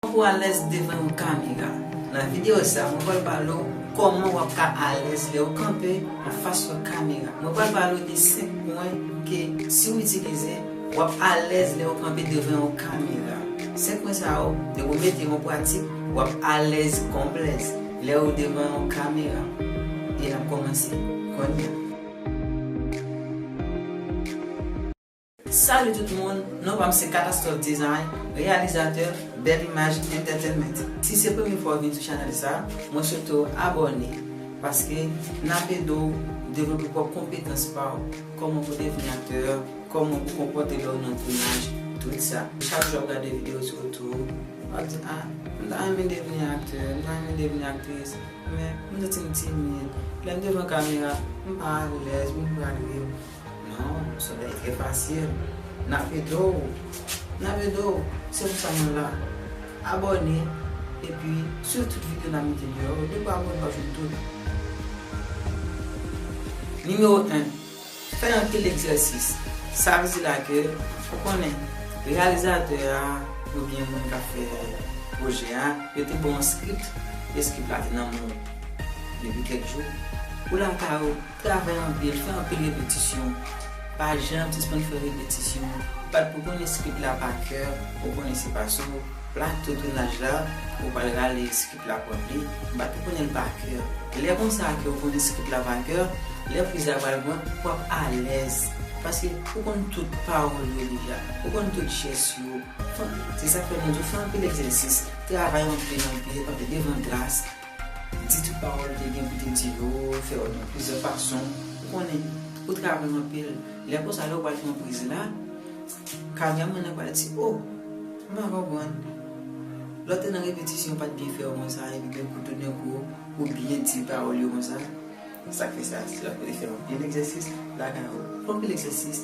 Fòk ou alèz devan yon kamera. Nan videyo sa, mwen pral pale w kòman wap ka alèz lèw kanpe anfas yon kamera. Mwen pral pale w de 5 pwen ke si w itilize, wap alèz lèw kanpe devan yon kamera. 5 pwen sa yo, depi w mete yo an pratik, wap alèz kòm blèz lèw devan yon kamera. E nap kòmanse kounya. Salut tout moun, non pam se Catastrophe Design, reyalizatè Belle Image Entertainment. Si se premye fwa w vin sou chanèl sa, mwen swete w abòne paske nap ede w devlope pwòp konpetans pa w, kòman pou devni aktè, kòman pou konpòte lè w nan tounaj, tout sa. Chak jou ap gade video sou YouTube, wap di ah m ta renmen devni aktè, m ta renmen devni aktris, men m santi m timid, lè m devan kamera m pa alèz, m pral ri. Non, solèy trè pasyèn. Nap ede w, nap ede w, se pou sa mwen la. Abòne epi swiv tout video nap mete deyò yo, depi w abòne wap jwenn tout. Nimewo 1, Fè anpil egzèsis. Sa vle di la ke ou konnen reyalizatè a oubyen moun kap fè pwojè a, yo te ba w yon script, e script la te nan men w depi kèk jou, ou la kay ou. Travay anpil, fè anpil repetisyon. Pa janm sispann fè repetisyon. Bat pou konnen skit la pa kè, ou konnen se pa sou plato tounaj la ou pral rale skit la pran li, bat pou konnen l pa kè. Lè konsa ke ou konnen skit la pa kè, lè quiz la pral pran, w ap alèz. Paske ou konn tout pawòl yo deja, ou konn tout jès yo. Se sa k fè nou di w fè anpil egzèsis, travay anpil anpil, anpil devan glas. Di tout pawòl ou te gen pou te di yo, fè yo nan plizyè fason, ou konnen, ou travay anpil, lè konsa lè ou pral fè yon priz la, kamèraman nan pral di oh, m pa konprann, lè w te nan repetisyon yo pa t byen fè yo konsa epi gen kou toudenkou ou byen di pawòl yo konsa, sa k fè sa, se lè w te fè anpil egzèsis lakay ou, anpil egzèsis.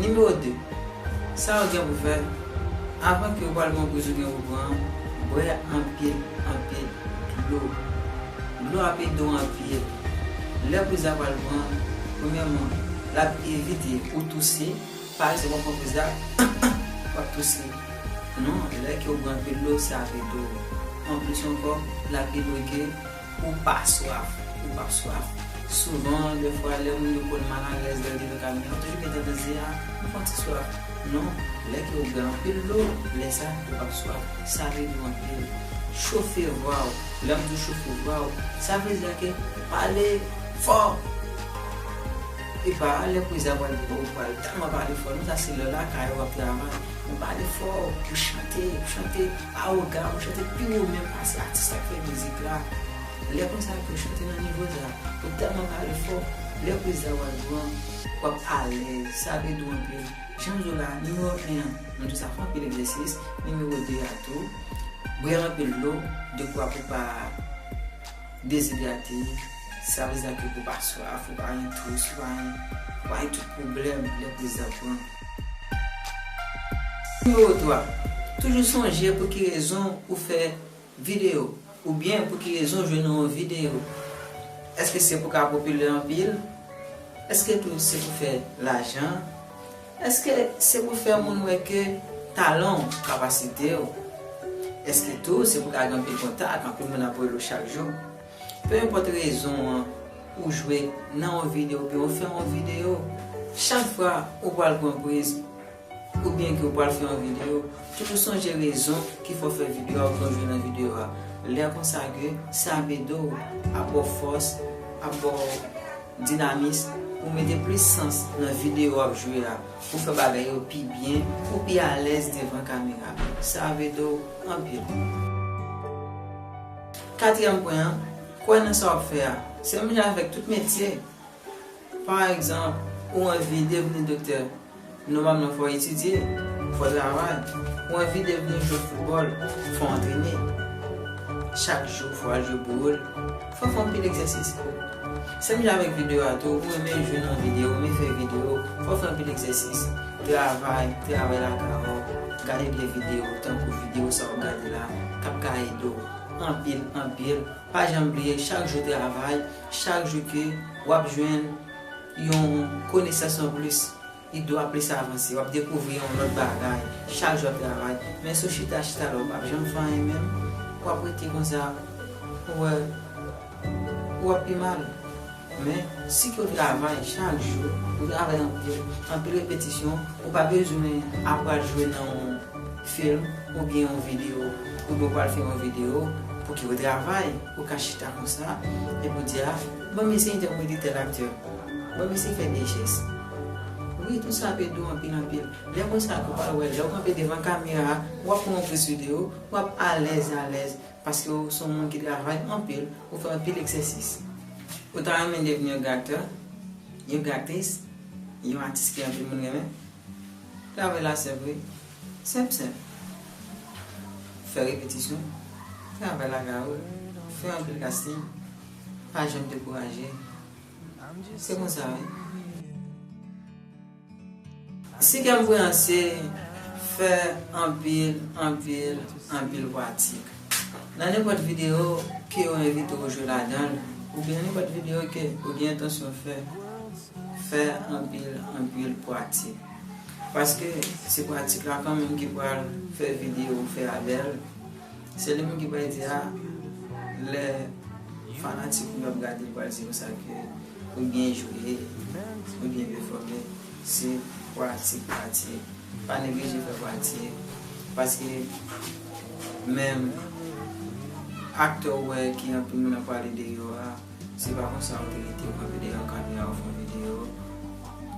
Nimewo 2, Sa yo gen pou fè, Avan ke ou pral pran poz ou gen pou pran an, bwè anpil, anpil dlo. Dlo ap ede w anpil. Lè poz la pral pran, premyèman, l ap evite ou touse. Pa egzanp, w ap pran poz la, w ap touse. Non, lè ke ou bwè anpil dlo, sa ap ede w. Anplis ankò, l ap ede w ke. Ou pa swaf. Ou pap swaf. Souvan, dè fwa, lè moun yo konn mal alèz lè yo rive kay moun yo, yo toujou gen tandans di, a, m pran ti swaf. Non, lè ke ou bwè anpil dlo, lè sa, ou pap swaf. Save dlo anpil. Chofe vwa ou. Lè m di w chofe vwa ou, sa vle di a ke pale fò! Epa, lè kriz la pral vini, ou pral tèlman pale fò. Non, sa se lè w lakay ou, w ap travay. Men pale fò, ou chante, chante. Arogan ou chante pi wo menm pase atis kap fè mizik la lè konsa epiw chante nan nivo dra ou tèlman pale fò lèw prezan wal pran wap alèz sa vle dou anpil janm diw la nimewo 1 an nou diw sa fè anpil egzèsis nimewo 2 a tou bwè anpil dlo dekwa pou pa dezidrate sa vle di la ke pou pa swaf pou pa gen twous pou pa gen pou pa gen tout pwoblèm lè prezan pran. Nimewo 3, Toujou sonje pou ki rezon ou fè videyo oubyen pou ki rezon ou jwenn yon videyo. Èske se pou ka popilè anpil? Èske tou se pou fè lajan? Èske se pou fè moun wè ke talan w, kapasite w? Èske tou se pou ka gen anpil kontak, anpil moun ap rele w chak jou? Peu importe rezon an ou jwe nan yon video oubyen ou fè yon video, chak fwa ou pral pran priz oubyen ke ou pral fè yon video, toujou sonje rezon ki fè w fè video a oubyen ou jwe nan video a. Lè konsa ke sa ap ede w, ap ba w fòs, ap ba w dinamis pou w mete plis sans nan video w ap jwe a, pou w fè bagay yo pi byen, pou w pi alèz devan kamera. Sa ap ede w anpil. Katriyèm pwen an, Kwè nan sa w ap fè a. Se menm jan avèk tout metye. Pa egzanp, ou anvi devni doktè, nòmalman fò w etidye, fò w travay. Ou anvi devni jwè foutbòl, fò w antrene chak jou, fò w al jwe pou ou. Fò w fè anpil egzèsis. Sèm jan avèk video a tou ou renmen jwe nan video ou renmen fè video fòw fè anpil egzèsis travay travay lakay ou gade de video tankou video sa wap gade la kap ka ede w anpil anpil pa janm bliye chak jou travay chak jou ke wap jwenn yon konesans anplis. Li dwa plis avanse. Wap dekouvri yon lòt bagay chak jou wap travay. Men si w chita chita la ou pap janm fè anyen menm. Wap rete konsa ou wè ou ap pi mal. Men si ke w travay chak jou, ou travay anpil, anpil repetisyon, ou pa bezwen ap pral jwe nan yon film oubyen yon video oubyen w pral fè yon video pou ki ou travay. Ou ka chita konsa epi w di a. Mwen mesye gen wi li tel acteur. Mwen mesye fè de jès. Wi tou sa pe dou anpil anpil. Lè konsa ou pral wè lèw kanpe devan kamera wap pran yon pris video wap alèz alèz paskew son moun ki travay anpil ou fè anpil egzèsis. Ou ta renmen devni yon gacteur, yon gactris, yon atis ke anpil moun renmen? Travay la senp wi. Senp senp. Fè repetisyon. Travay la ka ou. Fè anpil casting. Pa janm dekouraje. Se konsa wi. Si kè m bouyanse, fè anpil, anpil, anpil pwatik. Nan nenpòt videyo ke yo envite w jwe ladan l, oubyen nenpòt videyo ke ou gen entansyon fè, fè anpil, anpil pwatik. Paske se pwatik la kanmenm ki pral fè videyo ou fè a bèl. Se li menm ki pral di a lè fanatik ou yo ap gade yo pral di konsa ke ou byen jwe, ou byen pèfòme, se pratik, pratik, pa neglije fè pratik paske menm aktè ou wè ki anpil moun ap pale de yo a. Se pa konsa yo te kite yo pran videyo a kap la yo fon videyo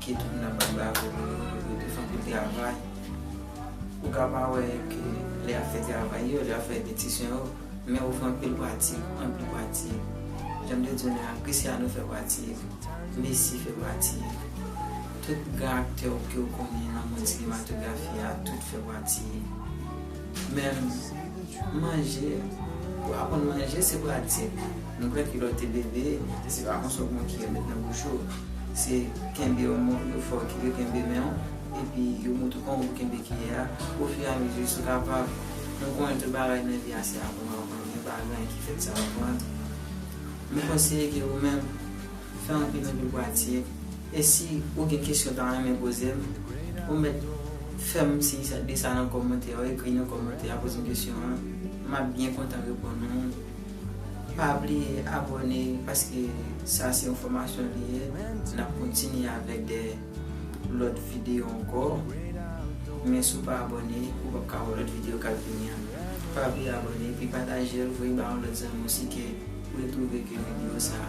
ke tout moun ap bay bravo pou yo pou yo te fè anpil travay ou ka pa wè yo ke lè yap fè travay yo lè yap fè repetisyon yo men yo fè anpil pratik anpil pratik janm te di w la Christiano fè pratik Messi fè pratik tout gran aktè ou ke ou konnen nan mond sinematografi a tout fè pratik menm manje pou aprann manje se pratik. Nou kwè kilòt te bebe, se pa konsa w makiye met nan bouch ou. Se kenbe yon mo yo fè w kile kenbe men w, epi yo montre w kòman pou w kenbe kiyè a. Ofiyamezi sou kapab, nou konnen tout bagay nan vi a se aprann w aprann, men pa gen anyen ki fèt san aprann. Nou konseye ke ou menm, fè anpil anpil pratik, e si ou gen kesyon w ta renmen poze m, ou mèt fè m siy de sa nan kòmantè a, ou ekri nan kòmantè a poze m kesyon an, m ap byen kontan reponn ou. Pa bliye abone paske sa se yon fomasyon li ye nap kontinye avek de lot video anko men si w pa abone ou pap ka wè lot video kap vini an pa bliye abone epi patajel voye ba yon lot zanmi w si ke ou te trouve ke video sa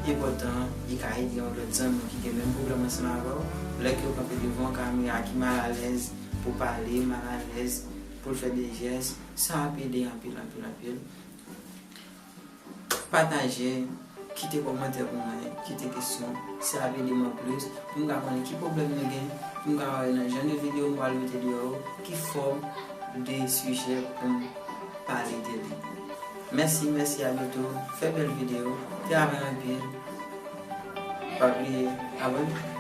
enpotan li ka ede yon lot zanmi ki gen menm pwoblem ansanm avè w lè ke w kanpe devan yon kamera ki mal alèz pou pale mal alèz pou l fè de jès. Sa ap ede anpil anpil anpil. Pataje, kite kòmantè pou mwen, kite kesyon. Sa ap ede m anplis pou m ka konnen ki pwoblèm nou gen, pou m ka wè nan jan de videyo m pral mete deyò yo, ki fòm de sijè pou m pale de li. Mèsi, mèsi, abyeto. Fè bèl videyo. Travay anpil. Pa bliye abone.